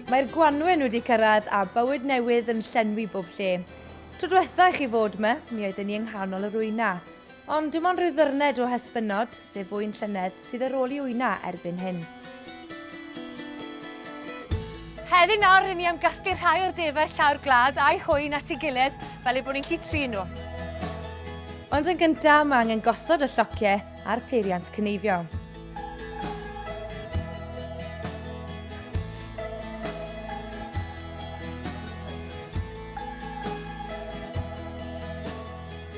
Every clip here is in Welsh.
Mae'r gwanwyn wedi cyrraedd a bywyd newydd yn llenwi bob lle. Tro dwetha i chi fod 'ma, mi oedden ni yng nghanol yr wyna. Ond dim ond rhyw ddyrned o hesbynod, sef fwyn llynedd, sydd ar ôl i wyna erbyn hyn. Heddiw nawr rŷn ni am gasglu rhai o'r defaid llawr gwlad a'u hwy'n at ei gilydd fel eu bod ni'n gallu trin nhw. Ond yn gyntaf mae angen gosod y llociau a'r peiriant cyneifio.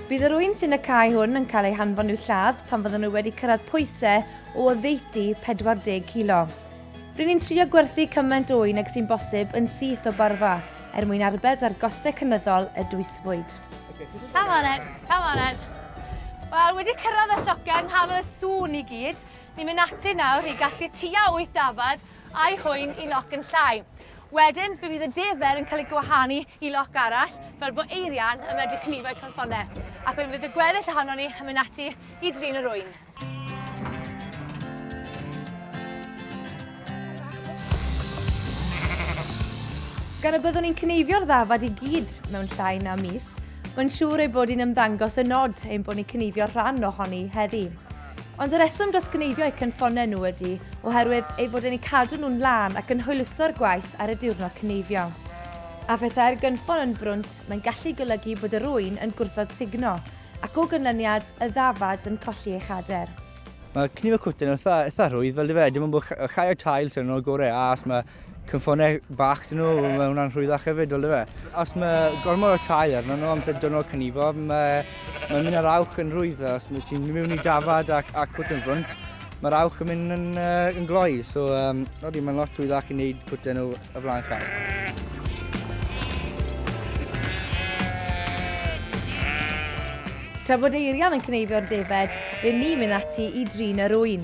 Bydd yr ŵyn sy'n y cae hwn yn cael ei hanfon i'w lladd pan fyddan nhw wedi cyrraedd pwysau o oddeutu 40 kilo. Rŷn ni'n trio gwerthu cymaint o ŵyn ag sy'n bosib yn syth o barfa, er mwyn arbed ar gostau cynyddol y dwysfwyd. Come on then, come on then. Wel, wedi cyrraedd y llocau yng nghanol y sŵn i gyd, ni'n mynd ati nawr i gasglu tua wyth dafad a'i hŵyn i loc yn llai. Wedyn, fe fydd y defer yn cael ei gwahanu i loc arall, fel bod Eirian yn medru cnido ei chalffonau, ac wedyn fydd y gweddill ohonon ni yn mynd ati i drin yr ŵyn. Gan y byddwn ni'n cnifio'r ddafad i gyd mewn llai na mis, mae'n siŵr ei bod hi'n ymddangos yn od ein bod ni'n cnifio rhan ohoni heddi. Ond y rheswm dros gneifio eu cynffonnau nhw ydy oherwydd ei fod e'n eu cadw nhw'n lân ac yn hwyluso'r gwaith ar y diwrnod cneifio. A phethau'r gynffon yn frwnt, mae'n gallu golygu bod yr ŵyn yn gwrthod sugno, ac o ganlyniad, y ddafad yn colli ei chader. Mae cneifio cwtyn yn eitha rhwydd, fel dwi wedi dweud, dim ond bod llai o tail sydd yno gorau, a os mae Cyffonau bach dyn nhw, mae hwnna'n rhwyddach hefyd, fel dyfe. Os mae gormod o tai arno nhw amser dynol cynifo, mae, mae mynd ar awch yn rhwydd. Os mae ti'n mynd i dafad ac, ac cwt yn ffrwnt, mae'r awch yn mynd yn, uh, yn gloi. So, um, nodi, mae'n lot rhwyddach i wneud cwtau nhw y flaen car. Tra bod Eirian yn cneifio'r defed, rydyn ni'n mynd ati i drin yr ŵyn.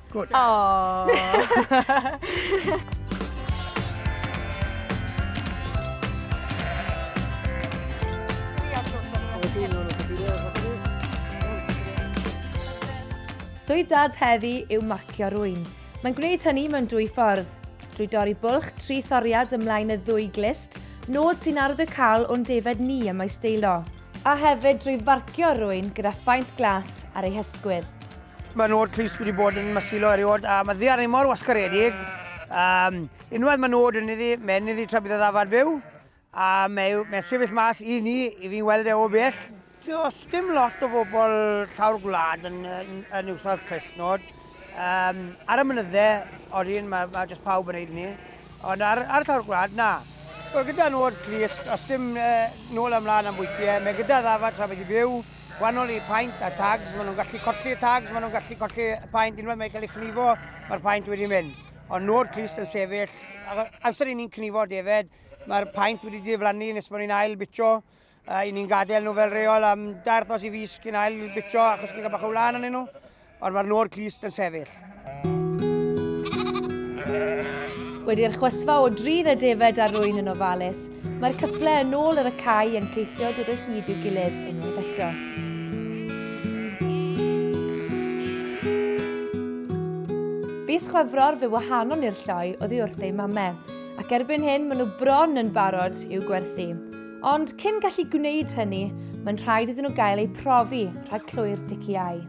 Good. Aww. Swydd dad heddi yw marcio rwy'n. Mae'n gwneud hynny mewn dwy ffordd. Drwy dorri bwlch tri thoriad ymlaen y ddwy glist, nod sy'n ardd y cael o'n defed ni y mae steilo. A hefyd drwy farcio rwy'n gyda phaent glas ar ei hysgwydd. Mae nod Clust wedi bod yn masilo erioed a mae ddiarni mor wasgaredig. Um, unwaith mae nod yn iddi, mae'n iddi tra bydd y ddafad byw a mae, mae sefyll mas i ni, i fi'n weld e o bell. Does dim lot o bobl llawr gwlad yn, yn, yn iwso'r clustnod. Um, ar y mynydde, oedden, mae, mae jyst pawb yn neud ni. Ond ar, ar llawr gwlad, na. Wel, gyda nod clust, os dim uh, nôl ymlaen am bwytiau, mae gyda ddafad tra bydd i byw, wahanol i paent a tags, maen nhw'n gallu colli y tags, maen nhw'n gallu colli y paent unwaith mae'n cael ei chnifo, mae'r paent wedi mynd. Ond nhw'r clust yn sefyll, amser i ni'n cnifo defed, mae'r paent wedi diflannu nes bod ni'n ail bitio, a i ni'n gadael nhw fel reol am dair thos i fus cyn ail bitio achos ni'n cael bach o wlan yn nhw. Ond mae'r nôr glust yn sefyll. Wedi'r chwysfa o drin y defaid a rwy'n yn ofalus, mae'r cyple yn ôl ar y cae yn ceisio dod o hyd i'w gilydd unwaith eto. Fis Chwefror fe wahanon i'r lloi oddi wrth ei mamau, ac erbyn hyn maen nhw bron yn barod i'w gwerthu. Ond cyn gallu gwneud hynny, mae'n rhaid iddyn nhw gael eu profi rhag clwy'r diciau.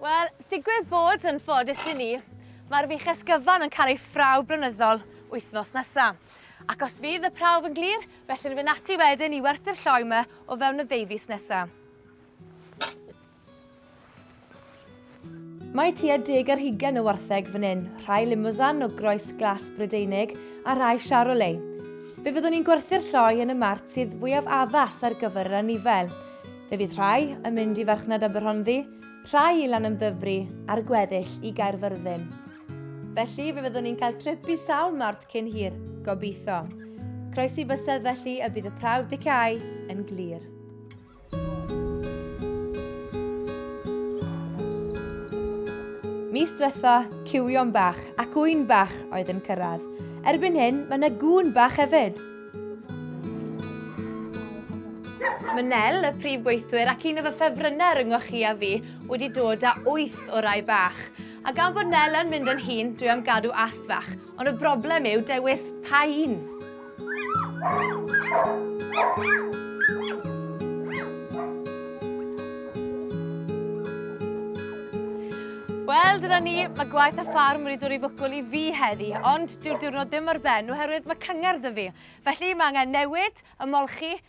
Wel, digwydd bod yn ffodus i ni, mae'r fych esgyfan yn cael ei phrawf blynyddol wythnos nesaf. Ac os fydd y prawf yn glir, felly'n fynd ati wedyn i werthu'r lloi yma o fewn y ddeufis nesaf. Mae tua deg ar hugen o wartheg fan hyn, rhai Limousin o groes glas Brydeinig a rhai Charolais. Fe fyddwn ni'n gwerthu'r lloi yn y mart sydd fwyaf addas ar gyfer yr anifel. Fe fydd rhai yn mynd i farchnad Aberhonddu, rhai i Lanymddyfri a'r gweddill i Gaerfyrddin. Felly fe fyddwn ni'n cael trip i sawl mart cyn hir, gobeithio. Croesi bysedd felly y bydd y prawf dicau yn glir. Mis diwetha, cywion bach ac ŵyn bach oedd yn cyrraedd. Erbyn hyn, mae yna gŵn bach hefyd. Mae Nel, y prif gweithwyr ac un o fy ffefrynnau ryngoch chi a fi, wedi dod â wyth o rai bach. A gan bod Nel yn mynd yn hŷn, dwi am gadw ast fach. Ond y broblem yw dewis pa un. Wel, dyna ni, mae gwaith a ffarm wedi dod i fwcwl i fi heddi, ond dyw'r diwrnod ddim ar ben oherwydd mae cyngerdd y fi. Felly mae angen newid, ymolchi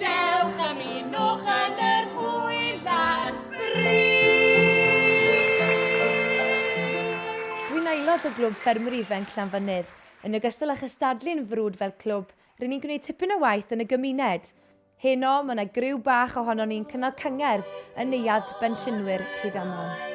Dewch am un o'ch yn yr hwyl ar sbri! Rwy'n aelod o Glwb Ffermwyr Ifanc Llanfynydd. Yn ogystal â chystadlu'n frwd fel clwb, ry'n ni'n gwneud tipyn o waith yn y gymuned. Heno, mae yna griw bach ohonon ni'n cynnal cyngerdd yn Neuadd Bensiynwyr Rhydaman.